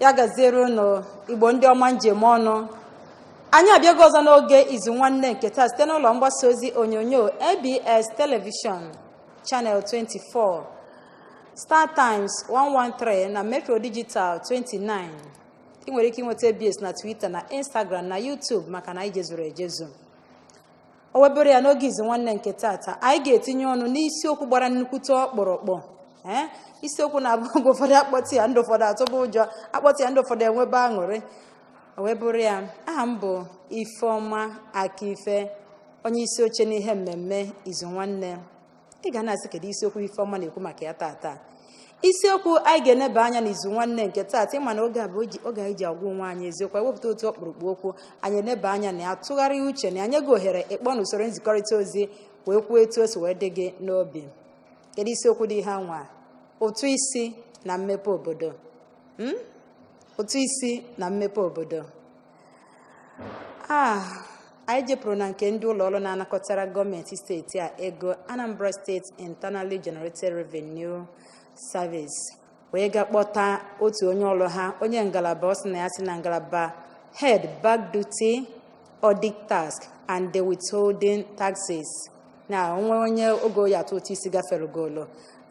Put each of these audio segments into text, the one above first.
ya gaziere unu igbo ndị ọma m ji eme ọnụ anyị abịago ọzọ n'oge izu nwanne nke taa site n'ụlọ mgbasa ozi onyonyo abs telivishọn channel 24 star times 113 na metro digital 29 i nwere ike inweta abs na twitter na instagram na youtube maka na anyị jezuru ejezu o wee bụrụ ya n'oge izu nwanne nke taata anyị ga-etinye ọnụ n'isiokwu gbara nnukwute ọkpụrụkpụ ee isiokwu na-abụ oge ụfọdụ a kpọtụ ya ndị ụfọdụ atụba ụjọ a kpọtụ ya ndị ụfọdụ enwebe aṅụrị o wee bụrụ ya aha m bụ ifeọma akife onye isi oche n'ihe mmemme izu nwanne ị ga na-asị kedu isiokwu ifeọma na-ekwu maka ya taata isiokwu anyị ga-eneba anya n'izu nwanne nke taata ị ma na oge a bụ oji- oge anyị ji agwa onwe anyị eziokwu anyị wepụta otu ọkpụrụkpụ okwu anyị eneba anya na ya tụgharịa uche na ya nye gị ohere ịkpọ na usoro nzikọrịta ozi wee kwuo etu o si wee dị gị n'obi kedu isiokwu dị ihe a nwa ụtụ isi na mmepe obodo Mm? ụtụ isi na mmepe obodo a anyị jepụrụ na nke ndị ụlọ ọrụ na-anakọtara gọọmenti steeti a ego anambra steeti internally generated revenue service wee ga kpọta otu onye ọrụ ha onye ngalaba ọ sị na ya si na ngalaba head back duty audit tax and the withholding taxes na o nwee onye oge ọ ya-atụ ụtụ isi gaferugolu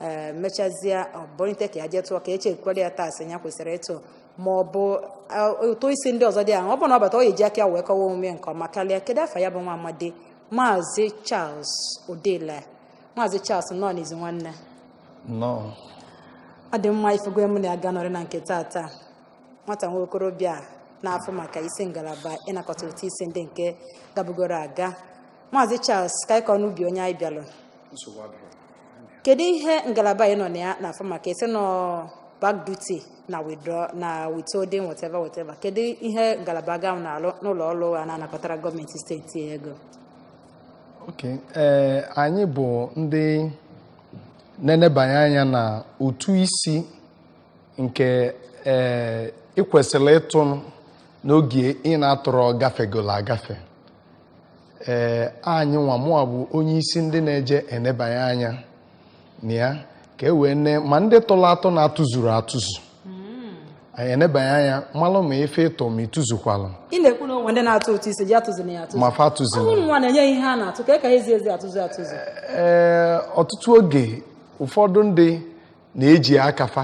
e mechazie o bunite ka ya jee tụọ ka e chekwara ya tax ya kwesịrị ịtụ ma ọ bụ ụtụ isi ndị ọzọ dị ahụ ọ bụrụ na ọ bata ọ ga-eji aka ya wee kọwa omume nke ọma karịa kedu afa ya bụ nwa amadi maazị charles odela maazị charles nnọọ n'izu nwanne nnọọ ọ dị mma ị fụgo onye mụ na ya ga-anọrị na nke taata nwata nwa okorobịa na-afụ maka isi ngalaba ịnakọta ụtụ isi ndị nke gabugoro aga maazị charles ka anyị kọọ n'ubi onye anyị bịalụ nsogbu adịghị kedu ihe ngalaba ị nọ na ya na-afụ maka ị sị n'ọ back duty na withdraw na withholding whatever whatever kedu ihe ngalaba gị ahụ na-alụ n'ụlọ ọrụ a na-anakọtara gọọmenti steeti ego Okay. ee anyị bụ ndị na-enebanye anya na ụtụ isi nke ee ị kwesịrị ịtụ n'oge ị na-atụrọ gafegola agafe ee anyị nwa mụwa bụ onye isi ndị na-eje enebanye anya na ya ka e wee nee ma ndị tụrụ atụ na-atụzuru atụzu anyị enebanye anya malụ ma ife ị tụ ma ị tụzukwalụ ị na-ekwu na o nwe ndị na-atụ ụtụ isi ji atụzu na ya atụzu ma fa ụmụ atụzila nwa na-enye ihe ha na-atụ ka e ka ha ezi ezi atụzu atụzu ee ọtụtụ oge ụfọdụ ndị na-eji aka fa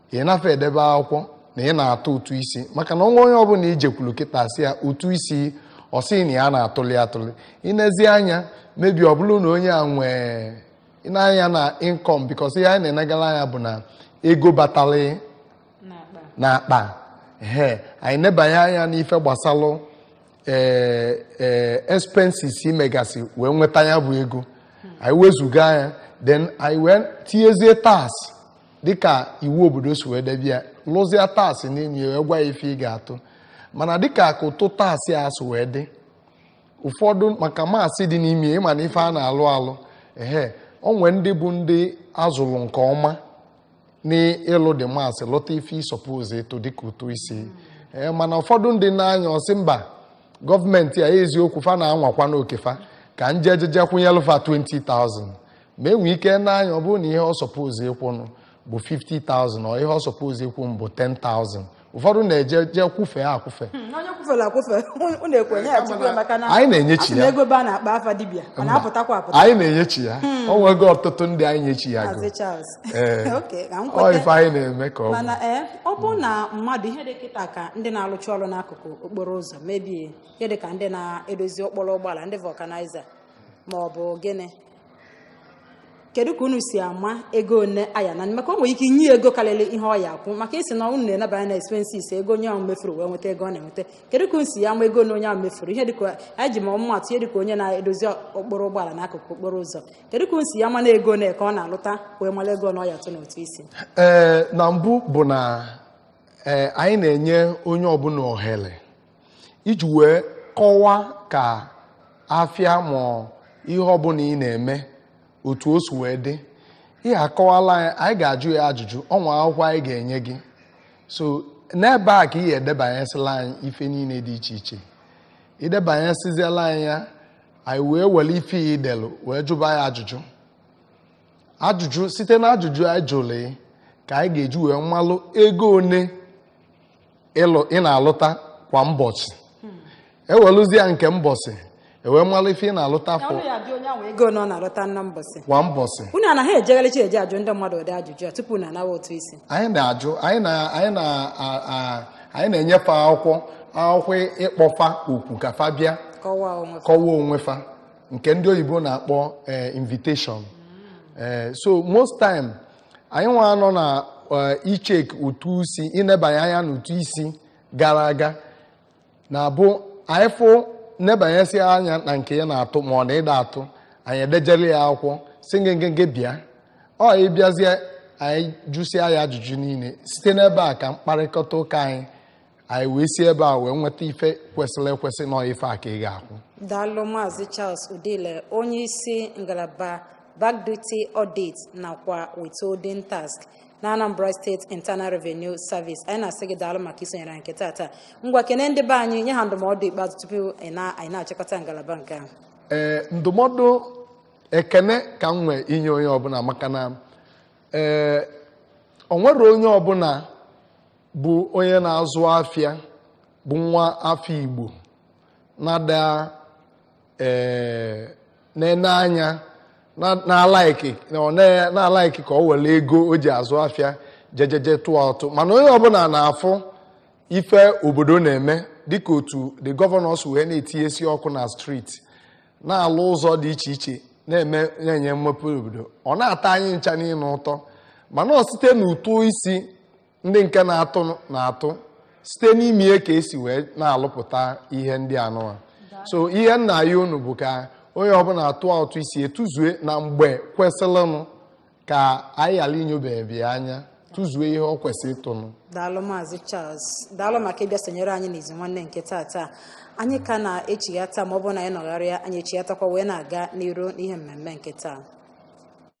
ị nafe edebe akwụkwọ na ị na-atụ ụtụ isi maka na o nwe onye ọbụla i jekwuru kịta sị ya ụtụ isi ọ sị na ya na-atụli atụli i nezie anya maybe ọ bụrụ na onye a nwee i nee anya na income because ihe anyị na-enegara anya bụ na ego batali na akpa he anyị nebanye anya n'ife gbasalụ ee ee expenses i megasị wee nweta ya bụ ego anyị wezuga ya then anyị wee tinyezie tax dịka iwu obodo si wee debe ya lụzie tax nye ya wee gwa ya ife ị ga-atụ mana dịka ka ụtụ tax a si wee dị ụfọdụ maka maths dị n'ime ya ịma na ife a na-alụ alụ ehe o nwe ndị bụ ndị a zụrụ nke ọma n'ịlụ the maths lụta ife ị suppose ịtụ dịka ụtụ isi ee mana ụfọdụ ndị na-anya ọ sị mba gọọmenti a eziokwu fa na-anwakwa n'oke fa ka m jeje je kwụnyelụ fa 20,000 ma e nwee ike nee anya ọ bụrụ na ihe ọ suppose ịkwụnụ bụ 50,000 ọ ihe ọ suppose ịkwụnụ bụ 10,000 ụfọdụ na-eje je kwụfee akwụfe Hmm, onye kwụfere akwụfe unu na-ekwe nye ya tupu ya maka na Anyị na-enyechi a sị na ya. ego baa n'akpa afa dibịa ọ na-apụtakwa apụta anyị na-enyechi ya o nwego ọtụtụ ndị anyị nyechi ya go Maazị Charles Ee. Okay, ka m ọ kweta. ife anyị na-eme ka ọ bụ mana ee ọ bụrụ na mmadụ ihe dị kịta ka ndị na-alụcha ọrụ n'akụkụ okporo ụzọ maybe ihe dị ka ndị na-edozi okporo ụgbọala ndị vulcanizer ma ọ bụ gịnị kedu ka unu si ama ego one a ya-ana maka o nwere ike inye ego karịrị ihe ọ ya-akwụ maka isi na unu na-enabanye na expenses ego onye ahụ mefuru wee nweta ego ọ na-enweta kedu ka unu si ama ego one onye ahụ mefuru ihe dịka anyị ji maa ọmụmaatụ ihe dịka onye na-edozi okporo ụgbọala n'akụkụ okporo ụzọ kedu ka unu si ama na ego one ka ọ na-alụta wee mara ego one ọ ya-atụ n'ụtụ isi ee na mbụ bụ na ee anyị na-enye onye ọbụla ohere iji wee kọwaa ka afịa ma ihe ọbụla ị na-eme otu o si wee dị ị kọwala anyị anyị ga-ajụ ya ajụjụ o nwe akwụkwọ anyị ga-enye gị so n'ebe a ka ị ya-edebanyesịla anyị ife niile dị iche iche i debanyesịziela anyị ya anyị wee were ife i delu wee jụba ya ajụjụ ajụjụ site na ajụjụ anyị jụrụ ka anyị ga-eji wee malụ ego one ịlụ ị na-alụta kwa mbọsị e welụzie nke mbọsị e wee malụ ife ị na-alụta afọ ọnụ ya dị onye ahụ ego one ọ na-alụta na mbọsị kwa mbọchị unu anaghị ejegharịcha eje ajụ ndị mmadụ ụdị ajụjụ a tupu unu anawa ụtụ isi anyị na-ajụ anyị na anyị na a- a- anyị na-enye fa akwụkwọ akwụkwọ ịkpọ fa okwu ka fa bịa kọwaa onwe fa. kọwa onwe fa nke ndị oyibo na-akpọ eh, invitation Eh, so most time anyị nwa nọ na eh, ichek ụtụ isi ịnebanye anya n'ụtụ isi gara aga na-abụ anyị fụ nebanyesi anya na nke ya na-atụ ma ọ na ịda atụ anyị edejere ya akwụkwọ sị ngengenge bịa ọ bịazie anyị jụsịa ya ajụjụ niile site n'ebe a ka mkparịkọta ụka anyị anyị wee si ebe a wee nweta ife kwesịrị ekwesị na ọ ife a ka ị ga-akwụ daalụ maazị charles udile onye isi ngalaba back duty audit nakwa withholding tax na anambra steeti internal revenue service anyị na-asị gị daalụ maka isonyere anyị nke taata ngwa kene ndị be anyị nye ha ndụmọdụ ikpeazụ tupu anyị na- anyị na-achịkọta ngalaba nke ahụ ee ndụmọdụ ekene ka m nwee inye onye ọbụla maka na ee o nwere onye ọbụla bụ onye na-azụ afịa bụ nwa afọ Igbo na-ada eh, na-ene anya na-alaiki na-alaiki ka o were ego o ji azụ afịa jejeje tụọ ụtụ mana onye ọbụla na-afụ ife obodo na-eme dịka otu the governor si wee na-etinyesi ọkụ na streeti na-alụ ụzọ dị iche iche na-eme na-enye mmepe obodo ọ na-atọ anyị ncha niine ụtọ mana ọ site n'ụtụ isi ndị nke na-atụ na-atụ site n'ime ya ka e si wee na-alụpụta ihe ndị anụwa so ihe m na-ayọ unu bụ ka onye ọbụla tụa ụtụ isi ya tụzue na mgbe kwesịrịnụ ka anyị ghara inyobe gị anya tụzuo ihe o kwesịrị ịtụnụ daalụ maazị Charles daalụ maka ịbịa sonyere anyị n'izu nwanne nke taata anyị ka na-echighata ma ọ bụrụ na anyị nọgharịa anyị echighatakwa wee na-aga n'iru n'ihe mmemme nke taa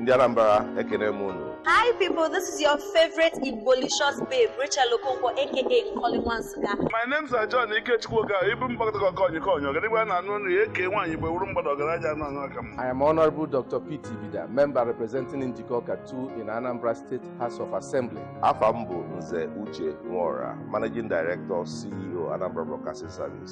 Ndị Anambra ekene m unu. Hi people, this is your favorite Igbolicious babe, Rachel Okonkwo aka Nkoli Nwa Nsukka. My names are John Ikechukwu Okafor, Ibu mgbakọta ka ọkọnyị ka ọnyọ, gịnị gwa na anụ nri eke nwaanyị bụ ewuru mgbada ọgaranya anụ anụ aka m. I am Honorable Dr. Pete Ibida, member representing Njikọka 2 in Anambra State House of Assembly. Afa m bụ Nze Uche Nworah, Managing Director, CEO, Anambra Broadcasting Service.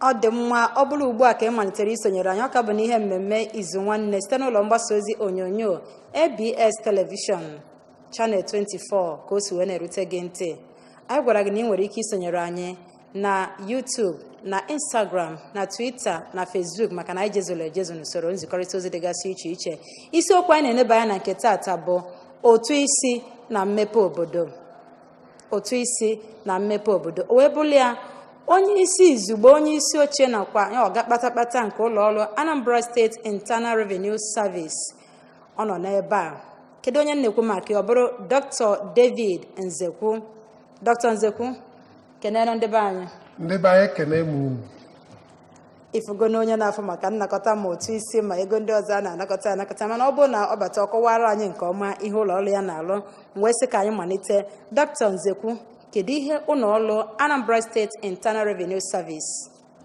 ọ dị mma ọ bụrụ ugbu a ka ị malitere isonyere anyị ọ ka bụ n'ihe mmemme izu nwanne site n'ụlọ mgbasa ozi onyonyo abs telivishọn chanel 24 ka o si wee na-erute gị ntị anyị gwara gị na ị nwere ike isonyere anyị na YouTube na Instagram na Twitter na Facebook maka na anyị jezuru ejezu n'usoro nzikọrịta ozi dịgasị iche iche isiokwu anyị na-eneba anya na nke taata bụ ụtụ isi na mmepe obodo ụtụ isi na mmepe obodo o wee bụrụ ya onye isi izugbe onye isi oche nakwa ọga kpatakpata nke ụlọ ọrụ anambra steeti internal revenue service ọ nọ n'ebe a kedu onye m na-ekwu maka ya ọ bụrụ dr david nzekwu dr nzekwu kenee ndị be anyị ndị be anyị ekene m unu ị fụgo na onye na-afụ maka nnakọta ma ụtụ isi ma ego ndị ọzọ a na-anakọta anakọta mana ọ bụrụ na ọ bata ọ kọwara anyị nke ọma ihe ụlọ ọrụ ya na-alụ m wee sị ka anyị malite dọkịta nzekwu kedu ihe ụlọ ọrụ anambra state internal revenue service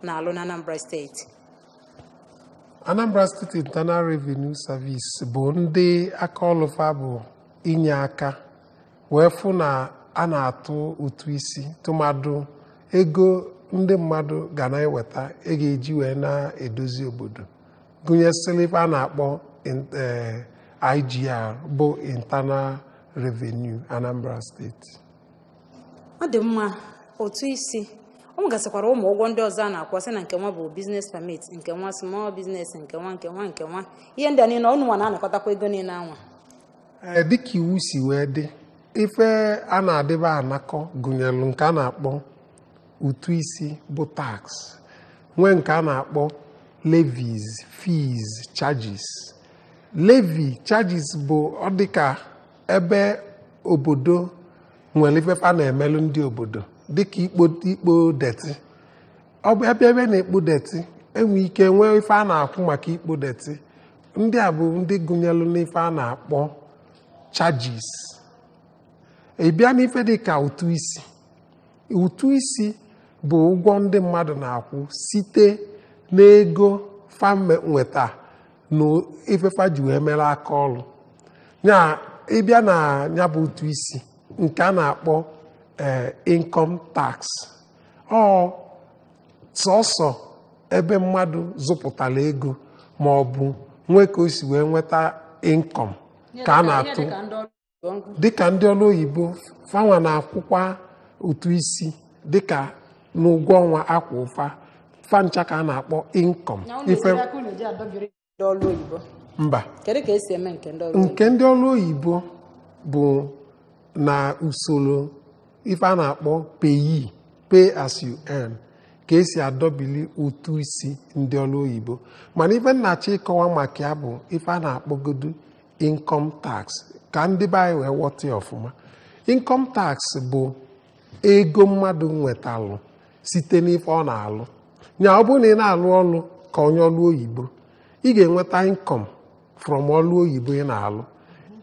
na-alụ na anambra state anambra state internal revenue service bụ ndị aka ọlụ fa bụ inye aka wee fụ na a na-atụ ụtụ isi tụmadụ ego ndị mmadụ ga na-eweta e ga-eji wee na-edozi obodo gụnyesịlị ife a na-akpọ in- eh, IGR bụ internal revenue Anambra state ọ dị mma ụtụ isi ọ nwegasịkwara ụmụ ụgwọ ndị ọzọ a na-akwụ sị na nke nwa bụ business permit nke nwa small business nke nwa nke nwa nke nwa ihe ndị a niile ọ ụnụ nwa na-anakọtakwa ego niile anwa ee dịka iwu si wee dị ife a na-adịba anakọ gụnyelụ nke a na-akpọ ụtụ isi bụ tax nwee nke a na-akpọ levies fees charges levy charges bụ ọ dịka ebe obodo nwere ife a na-emelụ ndị obodo dịka ikpo ikpo detị ọ bụ ebe ebe na-ekpo detị e nwe ike nwee ife a na-akwụ maka ikpo detị ndị a bụ ndị gụnyelụ n'ife a na-akpọ charges ị bịa n'ife dị ka ụtụ isi ụtụ isi bụ ụgwọ ndị mmadụ na-akwụ site n'ego fa me- nweta na ife fa ji wee mere aka ọrụ ya ị bịa na ya bụ ụtụ isi nke a na-akpọ eh, income tax ọ sọsọ ebe mmadụ zụpụtara ego ma ọ bụ nwee ka o si wee nweta income ka a na-atụ dịka ndị ọrụ oyibo fa nwa na-akwụkwa ụtụ isi dịka n'ụgwọ ọnwa a kwụ fa fa ncha ka a na-akpọ income ife ndị ọrụ oyibo mba kedu ka e si eme nke ndị ọrụ oyibo nke ndị ọrụ oyibo bụ na usoro ife a na-akpọ PAYE pay as you earn ka e si adọbili ụtụ isi ndị ọrụ oyibo mana ife m na-achọ ịkọwa maka ya bụ ife a na-akpọgodu income tax ka ndị be anyị wee ghọta ya ọfụma income tax bụ ego mmadụ nwetalụ site n'ife ọ na-alụ nya ọ bụrụ na ị na-alụ ọlụ ka onye ọlụ oyibo ị ga-enweta income from ọlụ oyibo ị na-alụ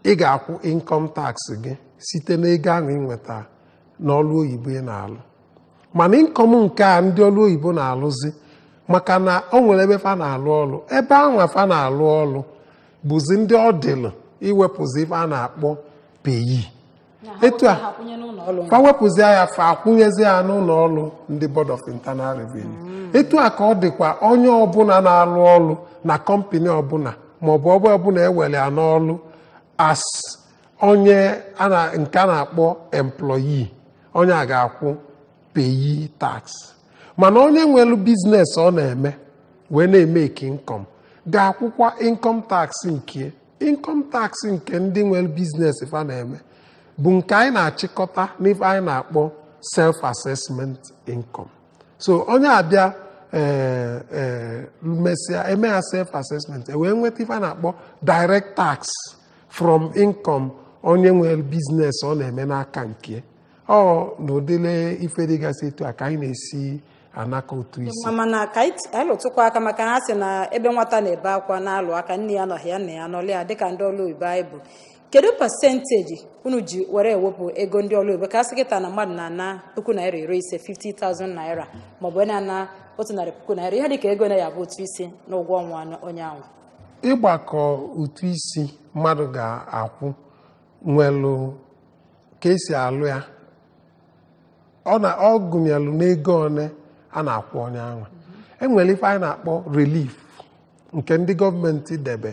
ị ga-akwụ income tax gị site n'ego ahụ ị nweta n'ọlụ oyibo ị na-alụ mana income nke a ndị ọlụ oyibo na-alụzi maka na o nwere ebe fa na-alụ ọlụ ebe ahụ fa na-alụ ọlụ bụzi ndị ọ dịlụ iwepụzi ife a na-akpọ PAYE etu a fa wepụzie ya fa akwụnyezi ya n'ụlọ ọrụ ndị board of internal revenue mm. etu a ka ọ dịkwa onye ọbụla na-alụ ọrụ na kọmpani ọbụla maọbụ ọbụ ọbụla ewere ya n'ọrụ as onye nke a na-akpọ employee onye a ga-akwụ PAYE tax mana onye nwere biznes ọ na-eme wee na-emeki income ga-akwụkwa income tax nke income tax nke ndị nwere biznes fa na-eme bụ nke anyị na-achịkọta n'ife anyị na-akpọ self assessment income so onye abịa eh, eh, mesịa eme ya self assessment e wee nweta ife a na-akpọ direct tax from income onye nwere biznes ọ na-eme n'aka nke ya ọ na ụdịlị ife dịgasị etu a ka anyị na-esi anakọ ụtụ isi ma mana ka anyị t- anyị lụtụkwa aka maka ha sị na ebe nwata na-ebe akwa na-alụ aka nne ya anọghị ya nna ya nọlị ya dịka ndị ọrụ oyibo anyị bụ kedu pasenteji unu ji were ewepụ ego ndị ọrụ oyibo ka a sị kịta na mmadụ na-ana puku naira iri ise 50,000 naira maọbụ onye na-ana otu narị puku naira ihe dịka ego one ya bụ ụtụ isi na ụgwọ ọnwa onye ahụ ịgbakọ ụtụ isi mmadụ ga-akwụ nwelụ ka esi alụ ya ọ na ọ gụnyelụ n'ego one a na-akwụ onye anwa enwere ife anyị na-akpọ relief nke ndị gọọmenti debe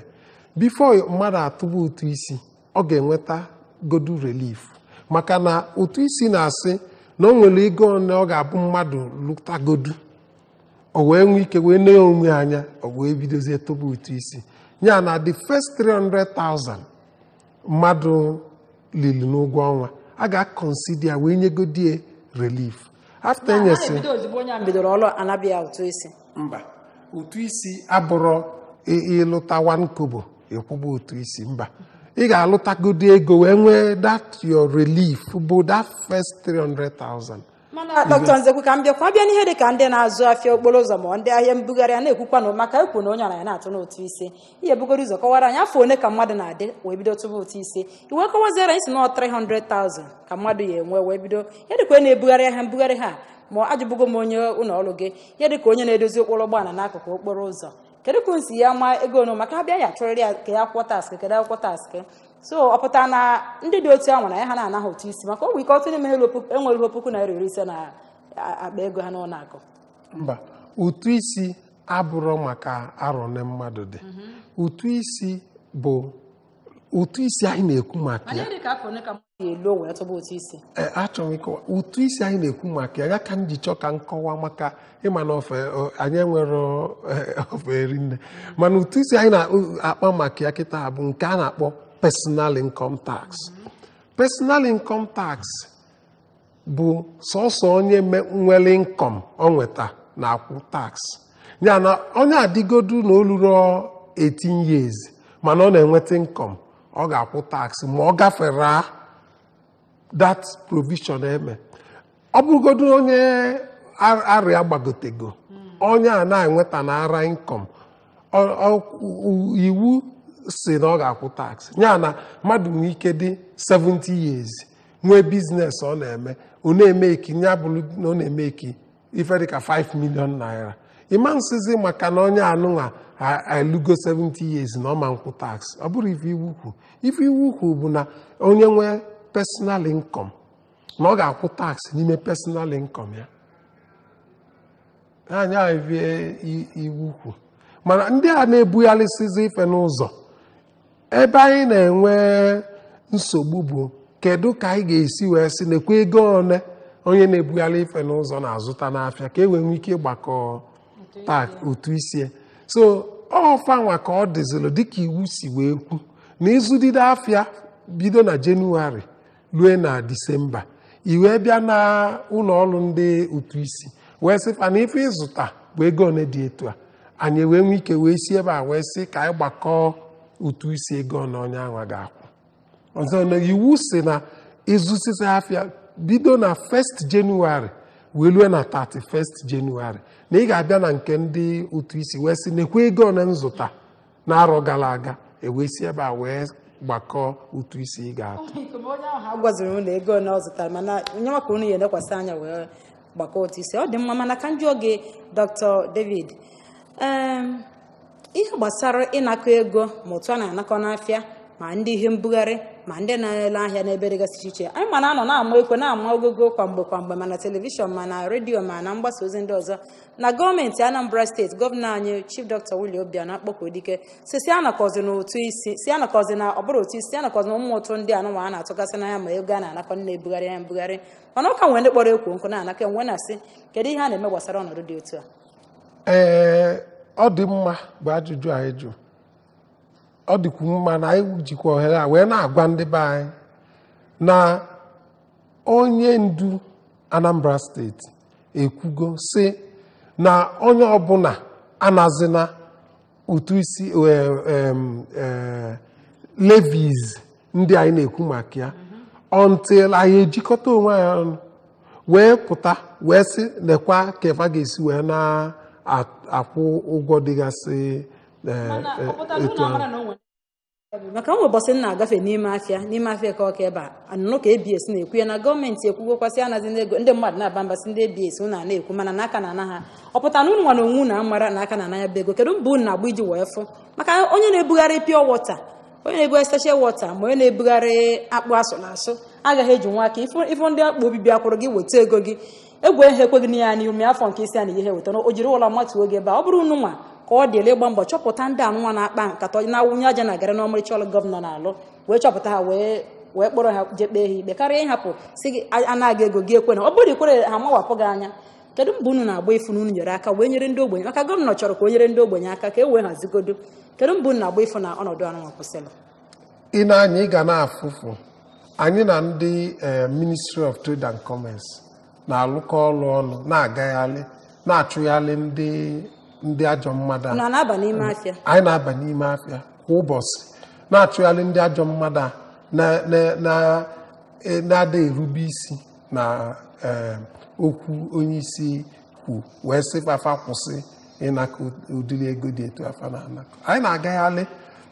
bifo mmadụ atụba ụtụ isi ọ ga-enweta godu relief maka na ụtụ isi na-asị na o nwere ego one ọ ga-abụ mmadụ lụtagodu o wee nwee ike wee nee onwe anya o wee bidozie tụba ụtụ isi ya na the first 300,000 mmadụ lili n'ụgwọ ọnwa a ga-akọnsida ya wee nyegodie relief afta enyesị na-ebido ozugbo onye a bidoro ọrụ anaba ya ụtụ isi mba ụtụ isi abụrọ ị- ịlụta one kobo ịkwụba ụtụ isi mba ị ga-alụtagodi ego wee nwee that your relief bụ that first 300,000 mana dọkịta nzekwu ka m bịakwa bịa n'ihe dị ka ndị na-azụ afịa okporo ụzọ ma ndị ahịa mbugharị a na-ekwukwanụ maka ekwu na onye ọra ya na-atụ n'ụtụ isi i bugoro ụzọ kọwara anyị afọ one ka mmadụ na-adị wee bido tụba ụtụ isi i wee kọwaziara anyị sị na 300,000 ka mmadụ ya enwe wee bido ihe dịka onye na-ebugharị ahịa mbugharị ha ma ajụbugo m onye ụlọ ọrụ gị ihe dịka onye na-edozi okporo ụgbọala n'akụkụ okporo ụzọ kedu ka unu si ya ama ego one maka abịa ya chọrọ ya ka ya kwụọ tax kedu akwụkwọ tax so ọ pụtara na ndị dị otu ahụ na ya ha na-anaghị ụtụ isi maka o nwe ike otu n'ime enweruho puku naira iri ise na akpa ego ha n'ụlọ akụ mba ụtụ isi abụrọ maka arọ one mmadụ dị ụtụ isi bụ ụtụ isi anyị na-ekwu maka ya elu wee tụba ụtụ isi Ee, achọrọ m ịkọwa ụtụ isi anyị na-ekwu maka ya ya ka m ji chọọ ka m kọwaa maka ị ma na ofe o- anyị nwere eh, ofe eri nne mana ụtụ isi anyị na-akpa maka ya kịta bụ nke a na-akpọ personal income tax personal income tax bụ sọsọ onye nwere income o nweta na-akwụ tax ya na onye adịgodu na o lurọ 18 years mana ọ na-enweta income ọ ga-akwụ tax ma ọ gafere that provision e me ọ bụrụgodu onye arọ ya gbagotego onye a na-enweta na ara income iwu sị na ọ ga-akwụ tax ya na mmadụ nwee ike dị 70 years nwee business ọ na-eme ọ na-emake ya bụrụ na ọ na-emake ife dịka 5 million naira ị ma nsịzi maka na onye anụnwa elugo 70 years na ọ ma nkwụ tax ọ bụrọ ife iwu kwu ife iwu kwu bụ na onye nwee personal income na ọ ga-akwụ tax n'ime personal income ya ọ ya ife iwu kwu mana ndị a na-ebugharịsịzi ife n'ụzọ ebe anyị na-enwe nsogbu bụ kedu ka anyị ga-esi wee sị nekwa ego one onye na-ebugharị ife n'ụzọ na-azụta n'afịa ka e wee nwee ike ịgbakọ tax ụtụ isi ya so ọ fanwa ka ọ dịzịrọ dịka iwu si wee kwu na ị zụdide afịa bido na jenụwarị lue na disemba i wee bịa na ụlọ ọrụ ndị ụtụ isi wee sị fa na ife ị zụta bụ ego one dị etu a anyị wee nwee ike wee si ebe a wee sị ka anyị gbakọọ ụtụ isi ego one onye ahụ ga-akwụ ọzọ na iwu sị na ị zụsịsịa afịa bido na 1st Jenụwarị wee lue na 31st Jenụwarị na ị ga-abịa na nke ndị ụtụ isi wee sị nekwa ego one m zụta n'arọ gara aga e wee si ebe a wee gbakọọ ụtụ isi ị ga-atụ a gwaziri unu ego ole ọ zụtara mana nye maka anyị nekwasị anya wee gbakọọ ụtụ isi ọ dị mma mana ka m jụọ gị dr david em, ihe gbasara ịnakọ ego ma otu a na-anakọ n'afịa ma ndị ihe mbugharị ma ndị na-ele ahịa n'ebe dịgasị iche iche anyị ma na a nọ na-ama ekwe na-ama ogogo kwa mgbe kwa mgbe ma na telivishọn ma na redio ma na mgbasa ozi ndị ọzọ na gọọmenti anambra steeti gọvanọ anyị chief dr willie obianọ akpọkuo dike sị sị anakọzina ụtụ isi sị anakọzina ọ bụrọ ụtụ isi sị anakọzina ụmụ ụtụ ndị anụnwa a na-atụgasị n'ahịa ma ego a na-anakọ ndị na-ebugharị ya mbugharị mana ọ ka nwere ndị kpọrọ ekwo nkụ na-anakọ m wee na-asị kedu ihe a na-eme gbasara ọnọdụ dị otu a ee ọ dị mma bụ ajụjụ a ị jụ ọ dịkwu mma na anyị jikwa ohere a wee na-agwa ndị be anyị na onye ndu anambra steeti ekwugo sị na onye ọbụna anazina ụtụ isi eh, em, eh, levies ndị anyị na-ekwu maka ya until anyị ejikọta onwe anyị ọnụ wee pụta wee sị nekwa ka efa ga-esi wee na-akwụ ụgwọ dịgasị etu anụ maka o nwe ụbọchị m na-agafe n'ime afịa n'ime afịa eke ọka ebe a anụnụ ka abs na-ekwu ya na gọọmenti ekwugokwa sị anazina ego ndị mmadụ na-aba mba sị ndị abs unu a na-ekwu mana na a ka na-ana ha ọ pụtara na unu nwa na onwe unu amarọ na a ka na-ana ya bụ ego kedu mbọ unu na-agba iji wee fụ maka onye na-ebugharị pure water onye na-ebugharị sachet water ma onye na-ebugharị akpụ asụrụ asụ agaghị eji nwa aka ifu ifu ndị akpụ obi bịakwuru gị weta ego gị egwu ehe ekweghị na ya n'ime afọ nke isi a na ihe wetara o jiri ụlọ mmatụ oge ebe a ọ bụrọ unu nwa ka ọ dịlị ịgba mbọ chọpụta ndị anụnwa na-akpa nkata na-awụnye aja na garị n'ọmarịcha ọrụ gọvanọ na-alụ wee chọpụta ha wee wee kpọrọ ha jee kpee ha ikpe karịa ịhapụ si gị a- anaghị ego gị ekwe na ọ bụrụ ị kwerọ ha mawapụ gị anya kedu mbọ unu na-agba ịfụ na unu nyere aka wee nyere ndị ogbenye maka gọvanọ chọrọ ka e nyere ndị ogbenye aka ka e wee hazigodo kedu mbọ unu na-agba ịfụ na ọnọdụ anụnwa kwụsịrị ị na anyị ga na-afụfụ anyị na ndị eh, ministry of trade and commerce na-alụkọ ọrụ ọnụ na-agagharị na-achụgharị ndị ndị ajọ mmadụ a anyị na-aba n'ime afịa kwa ụbọchị na-achụgharị ndị ajọ mmadụ a na- na- na- e- na-ada erube isi na eh, okwu onye isi kwu wee sị fa fa kwụsị ịnakọ ụdịrị ego dị etu a fa na-anakọ anyị na-agagharị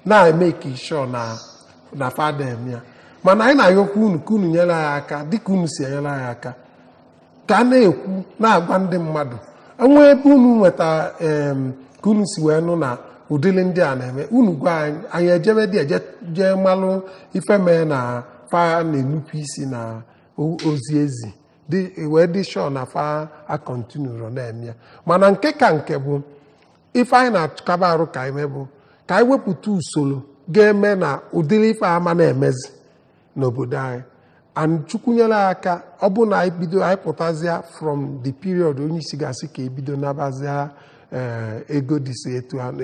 na-emake sure na na fa ada eme ya mana anyị na-ayọkwa unu ka unu nyere anyị aka dịka unu si enyere anyị aka ka a na-ekwu na-agwa ndị mmadụ e nwee ebe unu nweta em, ka unu si wee nụ na ụdịrị ndị a na-eme unu gwa anyị anyị ejebe dị eje jee malụ ife mee na fa na-enupụ isi na o- ozi e zi wee dị sure na fa acontinuerọ na-eme ya mana nke ka nke bụ ife anyị na-akaba arụ ka anyị mee bụ ka anyị wepụta usoro ga-eme na ụdịrị ife a ama na-emezi n'obodo anyị and chukwu nyere aka ọ bụ na anyị bido anyị pụtazịa from the period onye isi ga-asị ka e bido nabazịa ee ego dịsị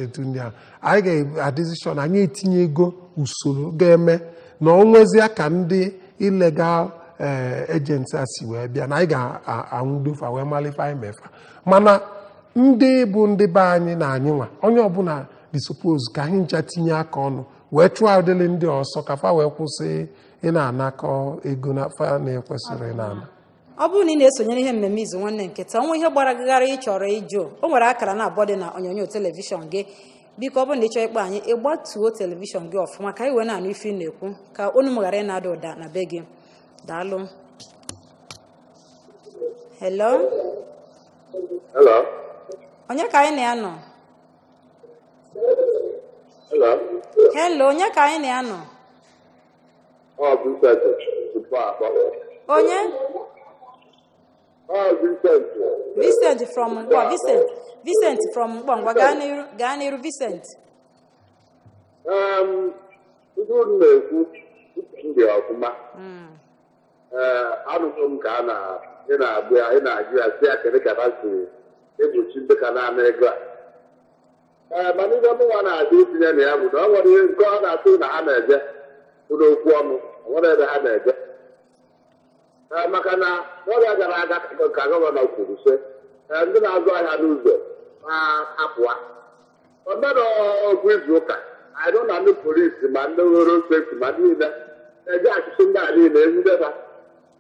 etu ndị a anyị ga-adịzi sure na anyị etinyego usoro ga-eme na o nwezie ka ndị illegal ee agents a si wee bịa na anyị ga-anwụdo fa wee malụ ife anyị mee fa mana ndị bụ ndị be anyị na anyị nwa onye ọbụna dị suppose ka anyị ncha tinye aka ọnụ wee chụọ ụdịlị ndị ọsọ ka fa wee kwụsị ịna-anakọ ego na fa na-ekwesịrọ ịna-ana ọ bụrụ na ị na-esonyere ihe mmemme izu nwanne nke taa o nwee ihe gbara gị gharịị ị chọrọ ịjụ o nwere akara na abụọ dị na onyonyo telivishọn gị biko ọ bụrụ na ị chọọ ịkpọ anyị ị gbatuo telivishọn gị ọfụma ka anyị wee na-anụ ife ị na-ekwu ka olu m ghara ịna-ada ụda na be gị daalụ hello Hello. onye ka anyị na ya nọ Hello. hello onye ka anyị na ya nọ Ọ bụ Vincent from Nkpọ. onye Ọ bụ Ifeanyi. Vincent from Nkpọ Vincent Vincent from Nkpọ ngwa gaa n'iru gaa n'iru Vincent Em, Ihe unu na-ekwu uche m dị ọfụma. Mm. Ee, anụgo m ka a na ị na-agụ ya ị na-ajụ ya si ya kedu ka ha si egbochi ndị ka na-ana ego a ee mana ive mụnwa na-adị itinye na ya bụ na ọ nwere ihe nke ọ na-atụ na ha na-eje bụ n'okwu ọnụ o nwerọ ebe ha na-eje Ee, maka na n'oge gara aga ka- ka gọvanọ kwuru sị ee, ndị na-azụ ahịa n'ụzọ ma apụwa o mere otu izu ụka anyị nọ na ndị polisi ma ndị road safety ma niile na-eje achụsị ndị a niile ezideba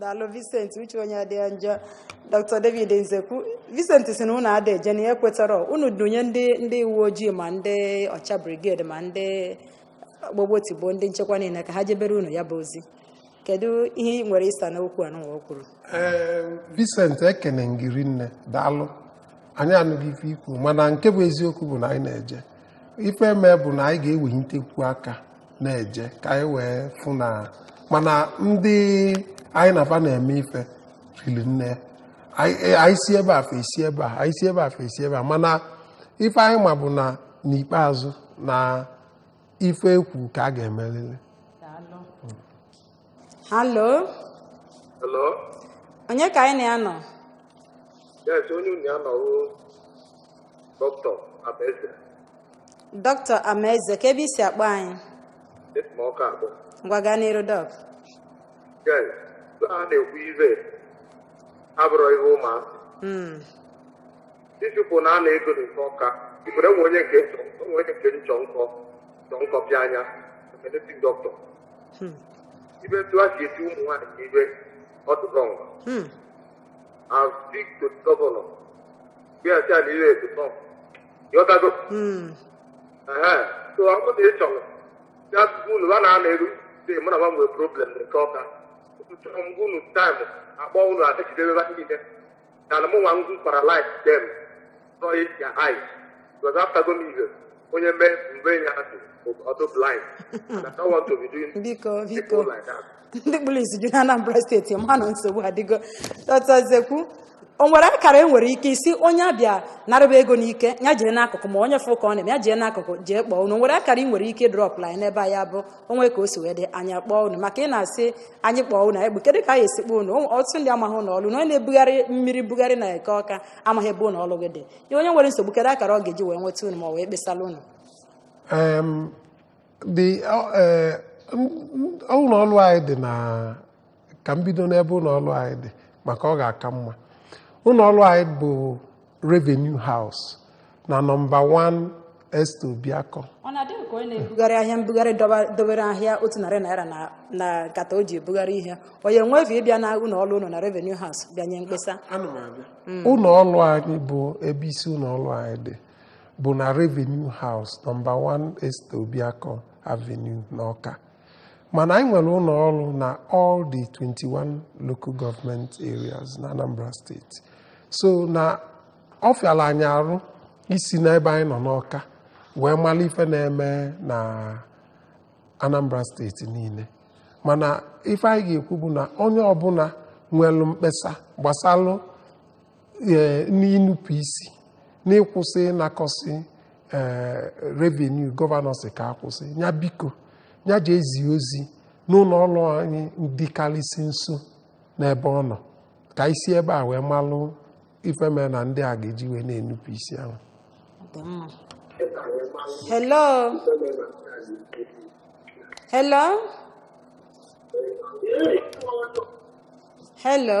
daalụ Vincent uche onye adị ya njọ Dr. David Nzekwu Vincent si na unu ada eje na ya ekwetarọ unu dunye ndị ndị uwe ojii ma ndị Ocha brigade ma ndị gbogbotigbo ndị nchekwa niile ka ha jebere unu ya bụ ozi kedu ihe ị nwere ịsa n'okwu a nụwa o kwuru ee Vincent ekene m gị rinne daalụ anyị anụgo ife i kwu mana nke bụ eziokwu bụ na anyị na-eje ife eme bụ na anyị ga-ewelitekwu aka na-eje ka anyị wee fụ na mana ndị anyị na fa na-eme ife riri nne e, anyị si ebe a fa esi ebe a anyị si ebe a fa esi ebe a mana ife anyị ma bụ na n'ikpeazụ na ife e kwu ka a ga-emelili halo Hello? onye ka anyị na ya nọ Yes, onye unu na ya nọ bụ dọkịta Amaeze dọkịta amaeze kee ebe i si akpọ anyị esi m Ọka akpọ. ngwa gaa n'iru dọk Yes, a na-ekwu ive abụrọ ihe ụma. Mm, Disipụ na a na-ego n'Eke Ọka. Ikwere nwe onye nke nchọ nwe onye nke nchọ nkọ nchọ nkọ pịa anya. Emenetin dọkịta. hmm. ibe etu a si eti ụmụ nwaanyị ibe ọtụtụ ngwa hmm. as big to the governor bịa taa na ihe etu nọ yọtago so ọ bụrụ na ị chọrọ ya tupu unu ha na-ana eru dị mụ na ha nwere problem n'Eke Ọka chọrọ m unu taịmụ akpọ unu adịgidebe ha niile than mụnwa m gwara life dem saw it their eyes because after go me onye mee mgbe ya dị ọdụ blind and I don't want to be doing biko biko people like that. ndị kpụrụ isi ju na anambra steeti mana nsogbu adịgo Dọktọ Nzekwu o nwere akara e nwere ike isi onye abịa narịba ego n'ike ya jee n'akụkụ ma onye fụ ka ọ na-eme ya jee n'akụkụ jee kpọọ unu o nwere akara ị nwere ike drọpụlụ anyị n'ebe a ya bụ o nwee ka o si wee dị anyị akpọọ unu maka ị na-asị anyị kpọọ unu egbu kedu ka anyị esi kpọọ unu ọtụtụ ndị amaghị ụlọ ọrụ unu onye na-ebugharị mmiri bugharị na Eke Ọka amaghị ebe ụlọ ọrụ gị dị ya onye nwere nsogbu kedu akara ọ ga-eji wee nweta unu ma ọ wee kpesara unu ụlọ ọrụ anyị dị na ka m bido n'ebe ụlọ ọrụ anyị dị maka ọ ga-aka mma ụlọ ọrụ anyị bụ revenue house na nọmba 1 Esther Obiakọ ọ na-adị ka onye na-ebugharị ahịa mbugharị dọba- dobere ahịa otu narị naira na na nkata o ji ebugharị ihe onye nwe efe ịbịa na ụlọ ọrụ unu na revenue house bịa nye mkpesa ụlọ ọrụ anyị bụ ebe isi ụlọ ọrụ anyị dị bụ na revenue house nọmba 1 Esther Obiakọ Avenue n'Ọka mana anyị nwere ụlọ ọrụ na all the 21 local government areas na Anambra steeti so na ọ fịara anyị arụ isi n'ebe anyị nọ n'ọka wee mara ife na-eme na Anambra steeti niile mana ife anyị ga-ekwu bụ na onye ọbụla nwere mkpesa gbasalụ ee, n'inupụ isi n'ịkwụsị ịnakọsị ee, revenue gọvanọ sị ka a kwụsị ya biko ya jee zie ozi n'ụlọ ọrụ anyị dịkarịsị nso n'ebe ọ nọ ka anyị si ebe a wee malụ ife mere na ndị a ga-eji wee na-enupụ isi ahụ Dị mma. Hello. Hello. Hello.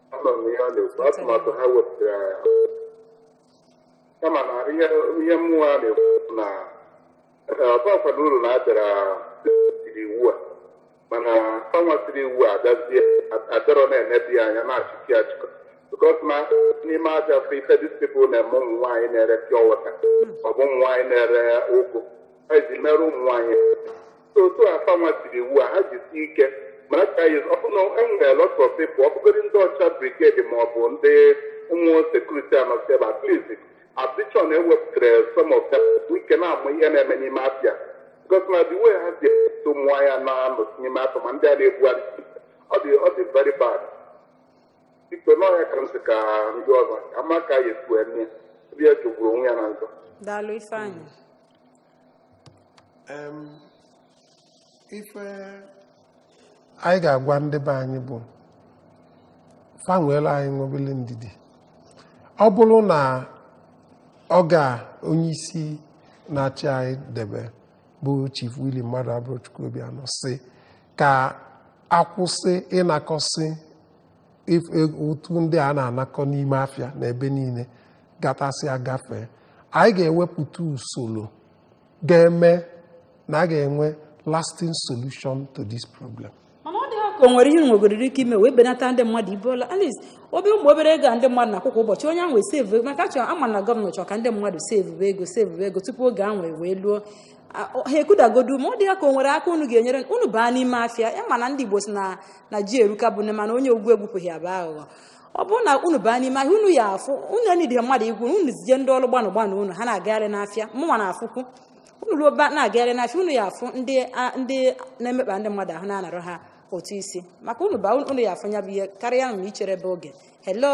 Anụ m ihe ọ na-ekwu atụmatụ ha wepụtara ya. kama na ihe ihe mụwa na-ekwu bụ na ọ bakwara uru na a bịara tiri iwu a mana fanwa tiri iwu a abịazie adịrọ na-enebe ya anya na-achịkị achịkọ because na n'ime ahịa afọ ife these people na-eme ụmụ nwaanyị na-ere pure water ọ bụ ụmụ nwaanyị na-ere ụgụ ha ji merụ ụmụ nwaanyị otu a fanwa tiri iwu a ha jisi ike mara ka anyị ọ bụrụ na e nwere lot of people ọ bụgodị ndị OCHA brigade ma ọ bụ ndị ụmụ security anọsi ebe at least addition ewepụtara some of them ike na-ama ihe na-eme n'ime afịa because na the way ha si epụta ụmụ nwaanyị na-anọ n'ime afọ ma ndị a na-ebugharị ọ dị ọ dị very bad biko n'ọhịa ka ntị ka ndị ọzọ ama ka ya efu eme ndị ya jogburu onwe ya na njọ daalụ ifeanyị ife anyị ga-agwa ndị be anyị bụ fa nweere anyị obele ndidi ọ bụrụ na ọga onye isi na-achị anyị debe bụ Chief Willie Mmadụabụrọchukwu Obianọ sị ka a kwụsị ịnakọsị ụtụ ndị a na-anakọ n'ime afịa na ebe niile gatasị agafee anyị ga-ewepụta usoro ga-eme na a ga-enwe lasting solution to this problem. mana ọ dị ya ka o nwere ihe unu nwegodiri ike ime wee benata ndị mmadụ ibe ọla at least obe ụmụ obere ego a ndị mmadụ na-akwụ kwa ụbọchị onye ahụ esave maka chọrọ ama na gọọmenti chọrọ ka ndị mmadụ save ego save ego tupu oge ahụ wee luo ha ekwudagodu ma ọ dị ya ka o nwere aka unu ga-enyere unu baa n'ime afịa ya mana ndị Igbo sị na na ji eruka bụ ne mana onye ogwu egwupụghị ya bụ aghụghọ ọ bụrụ na unu baa n'ime ahịa unu ya afụ unu enidịghị mmadụ igwu unu zie ndị ọrụ gbanụ gbanụ unu ha na-agagharị n'afịa mụnwa na-afụkwu unu ruo ba na-agagharị n'afịa unu ya afụ ndị a- ndị na-emekpa ndị mmadụ ahụ na-anarụ ha ụtụ isi maka unu baa unu ya afụ ya bụ ihe karịa na ichere bụ oge hello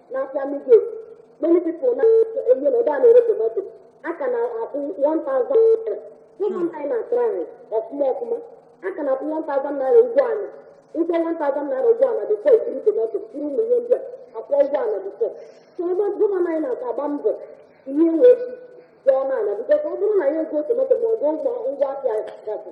n'afịa midget many people na enye na ebe a na-ere tomato a ka na-akwụ 1000 naira gọvanọ anyị na-atry ọfụma ọfụma a ka na-akwụ 1000 naira ụgwọ ala ụgwọ 1000 naira ụgwọ ala before ikiri tomato kiri ụmụ ihe ndị a akwụọ ụgwọ ala before so ebe gọvanọ anyị na-aka agba mbọ ihe wee dị ọnụ ala because ọ bụrụ na ị ya-ego tomato ma ọ bụ ngwa afịa gasị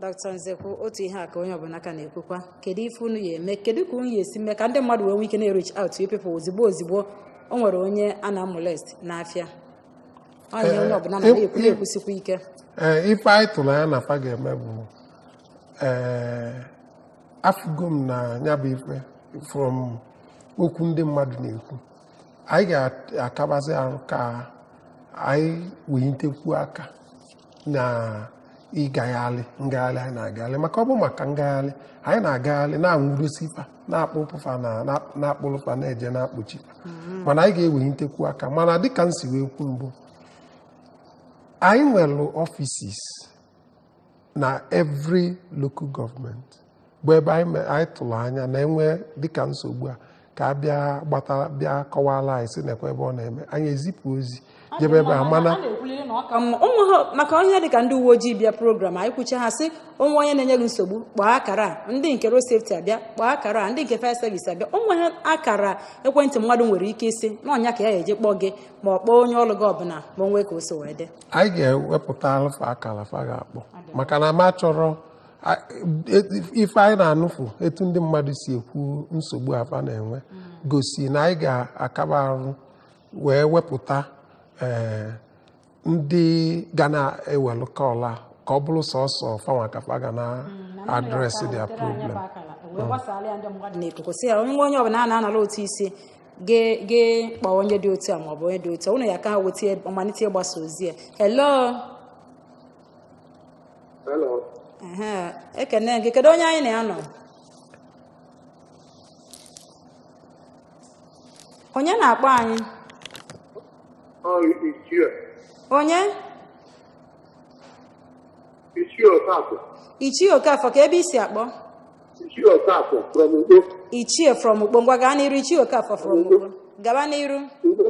dọkịta Nzekwu otu ihe a ka onye ọbụla ka na-ekwukwa kedu ife unu ya eme kedu ka unu ya esi mee ka ndị mmadụ wee nwee ike na-ereach out to people ozigbo ozigbo o nwere onye a na-amolest n'afịa onye onye ọbụla na na-ekwu na-ekwusikwa ike ee ife anyị tụrụ anya na fa ga-eme bụ ee afụgo m na ya bụ ife from okwu ndị mmadụ na-ekwu anyị ga-akabasi arụ ka anyị wenyitekwu aka na ịgagharị ngagharị anyị na-agagharị maka ọ bụ maka ngagharị anyị na-agagharị na-anwụdosi fa na-akpụpụ fa na-akpụrụ fa na-eje na-akpọchi fa mm-hmm. mana anyị ga-ewenyitekwu aka mana dịka m si wee kwu mbụ anyị nwere offices na every local government. bụ ebe anyị me- anyị tụrụ anya na e nwee dịka nsogbu a ka a bịa gbatara bịa kọwara anyị sị nekwa ebe ọ na-eme anyị ezipụ ozi jebe ebe a mana na-ekwuliri na ọ ka mma onwe ha maka onye dịka ndị uwe ojii bịa program anyị kwucha ha sị o nwee onye na-enye gị nsogbu kpọọ akara a ndị nke road safety abịa kpọọ akara a ndị nke fire service abịa o nwere akara ekwentị mmadụ nwere ike isi na ya ka ya ga-eji kpọọ gị ma ọ kpọọ onye ọrụ gị ọbụla ma o nwee ka ọ sọ wee dị anyị ga-ewepụtalụ fa akara fa ga-akpọ maka na m achọrọ ife anyị na-anụfu etu ndị mmadụ si ekwu nsogbu a fa na-enwe gosi na anyị ga-akaba arụ wee wepụta eh, ndị ga na-ewelụ kọla ka ọ bụrụ sọsọ fanwa ka fa ga na mm, address their problem onye ọbụla a na-anara ụtụ isi ga-akpọ onye dị otu a maọbụ onye dị otu a ụnụ ya ka weta malite ịgbasa ozi ya hello Hello. Ehe, ekene gị kedu onye anyị na ya nọ onye na-akpọ anyị Ọ ichie. onye Ichie Okafọ. ichie okafọ ka ebe i si akpọ Ichie Okafọ from Ukpo. ichie from ukpo ngwa gaa n'iru ichie okafọ from ukpo gaba n'iru Ukpo.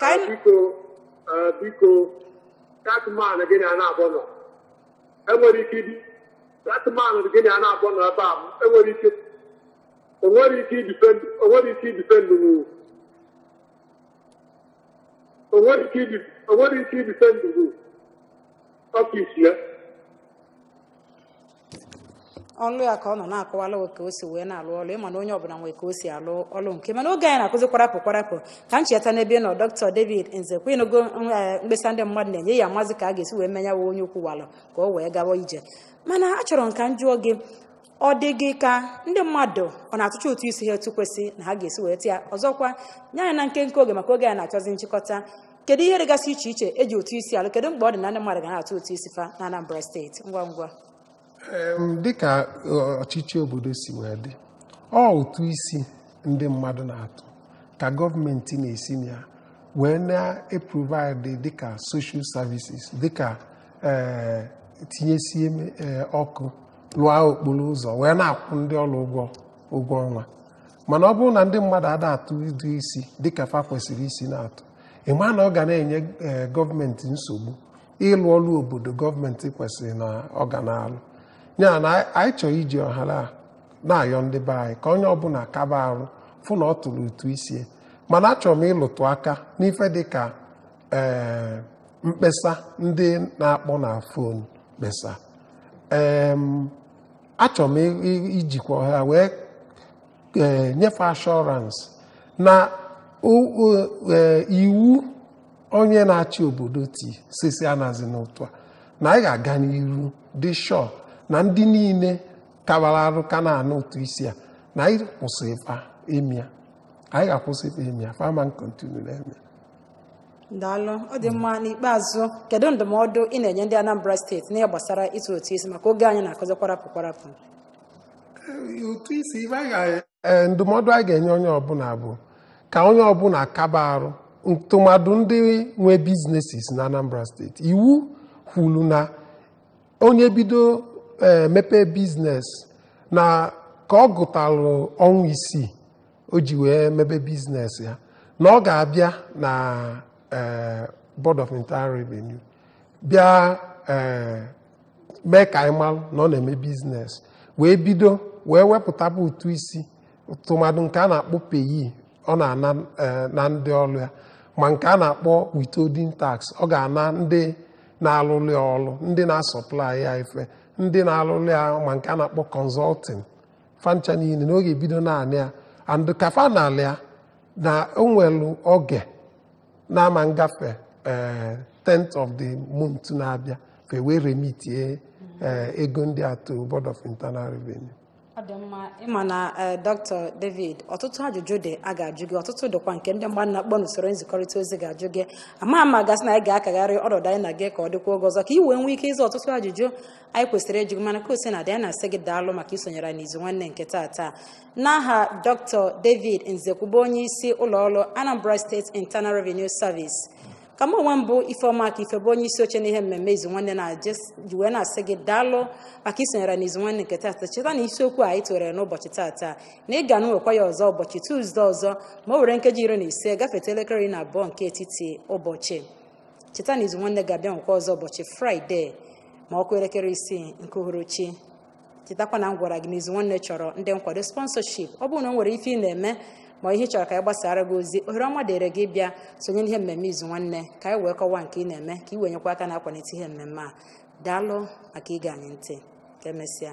ka anyị biko eh, biko that man gị na ya naabọ nọ enwere ike ibi that man gị na ya naabọ nọ ebe a enwere ike o nwere ike ịdefend o nwere ike ịdefend nwu o nwere ike ịdi o nwere ike ịdefend nwu office ya ọlụ ya ka ọ nọ na-akọwala ka o si wee na-alụ ọlụ ị ma na onye ọbụla nwee ka o si alụ ọlụ nke mana oge anyị na-akụzi kwarapụ kwarapụ ka m cheta n'ebe ị nọ dọkịta David Nzekwu ị nụgo mkpesa ndị mmadụ na-enye ya amazi ka a ga-esi wee mee nya wa onye ukwu walụ ka o wee gawa ije mana achọrọ m ka m jụọ gị ọ dị gị ka ndị mmadụ ọ na-atụcha ụtụ isi ha etu kwesị na ha ga-esi wee tụ ya ọzọkwa nye anyị na nkenke oge maka oge anyị na-achọzi nchịkọta kedu ihe dịgasị iche iche e ji ụtụ isi alụ kedu mkpa ọ dị na ndị mmadụ ga na-atụ ụtụ isi fa na Anambra steeti ngwa ngwa Em, dịka ọ- ọchịchị obodo si wee dị ọ ụtụ isi ndị mmadụ na-atụ ka gọọmenti na-esi na ya wee na-eprovide dịka social services dịka eh, tinyesie eh, ọkụ lụọ okporo ụzọ wee na-akwụ ndị ọrụ ụgwọ ụgwọ ọnwa mana ọ bụrụ na ndị mmadụ ada atụ ụtụ isi dịka fa kwesịrị isi na-atụ ị ma na ọ ga na-enye ee, gọọmenti nsogbu ịlụ ọrụ obodo gọọmenti kwesịrị na ọ ga na-alụ ya na anyị- anyị chọrọ iji ohere a na-ayọ ndị be anyị ka onye ọbụla kaba arụ fụ na ọ tụrụ ụtụ isi ya. mana achọrọ m ịlụtụ aka n'ife dịka ee mkpesa ndị na-akpọ na fon kpesa Em, achọrọ m i- i- ijikwa ohere a wee eh, nyefe assurance na o- o- eh, iwu onye na-achị obodo ti sị sị anazina ụtụ a na anyị ga-aga n'iru dị sure na ndị niile kabara arụ ka na-ana ụtụ isi a na anyị kwụsị fa ime ya anyị ga-akwụsị fa ime ya fa ama continue na-eme ya daalụ ọ dị mma n'ikpeazụ kedu ndụmọdụ ị na-enye ndị Anambra steeti n'ihe gbasara ịtụ ụtụ isi maka oge anyị na-akụzi kwarapụ kwarapụ ụtụ isi ibe anyị ga- ee, ndụmọdụ anyị ga-enye onye ọbụla bụ ka onye ọbụla kaba arụ ntụmadụ ndị nwe businesses na Anambra State iwu kwuru na onye bido ee, mepee business na ka ọ gụtalụ ọnwa isii o ji wee mebe business ya na ọ ga-abịa na eh, Board of Internal Revenue bịa eh, mee ka anyị malụ na ọ na-eme business wee bido wee wepụtaba ụtụ isi tụmadụ nke a na-akpọ PAYE ọ na-ana eh, na ndị ọlụ ya ma nke a na-akpọ withholding tax ọ ga-ana ndị na-alụlụ ya ọlụ ndị na-asupply ya ife ndị na-alụlụ ya ma nke a na-akpọ consulting fa ncha nine na ọ ga-ebido na-ana ya and ka fa na-anali ya na o nwelu oge na-ama ngafe eh, 10th of the month na-abịa fa ewee remitie eh, ego ndị a to Board of Internal Revenue ọ dị mma ị ma na eh, dr david ọtụtụ ajụjụ dị a ga-ajụ gị ọtụtụ dịkwa nke ndị mmadụ na-akpọ n'usoro nzikọrịta ozi ga-ajụ gị ama m ma a ga-asị na anyị ga-akagharị ọnọdụ anyị na gị ka ọ dịkwa oge ọzọ ka i wee nwee ike ịza ọtụtụ ajụjụ anyị kwesịrị ịjụ gị mana ka o si na dị anyị na-asị gị daalụ maka isonyere anyị n'izu nwanne nke tata n'aha dr david nzekwu bụ onye isi ụlọ ọrụ anambra state internal revenue service ka mụ onwe m bụ ifeọma ka ife bụ onye isi oche n'ihe mmemme izu nwanne na ji wee na-asị gị daalụ maka isonyere n'izu nwanne nke tata cheta na isiokwu a anyị tụlere n'ụbọchị tata na anyị ga-enwekwa ya ọzọ ụbọchị tuuzde ọzọ ma o were nkeji iri na ise gafeta elekere iri na abụọ nke etiti ụbọchị cheta na izu nwanne ga-abịa nwekwa ọzọ ụbọchị fraịde ma ọ kụọ elekere isii nke uhuruchi chetakwa na m gwara gị na izu nwanne chọrọ ndị nkwado sponsorship ọ bụrụ na o nwere ife ị na-eme ma ihe ị chọrọ ka anyị gbasara gị ozi ohere ọma dịrị gị ịbịa sonye n'ihe mmemme izu nwanne ka anyị wee kọwaa nke ị na-eme ka ị wee nyekwa aka na-akwalite ihe mmemme a daalụ maka ige anyị ntị ka emesịa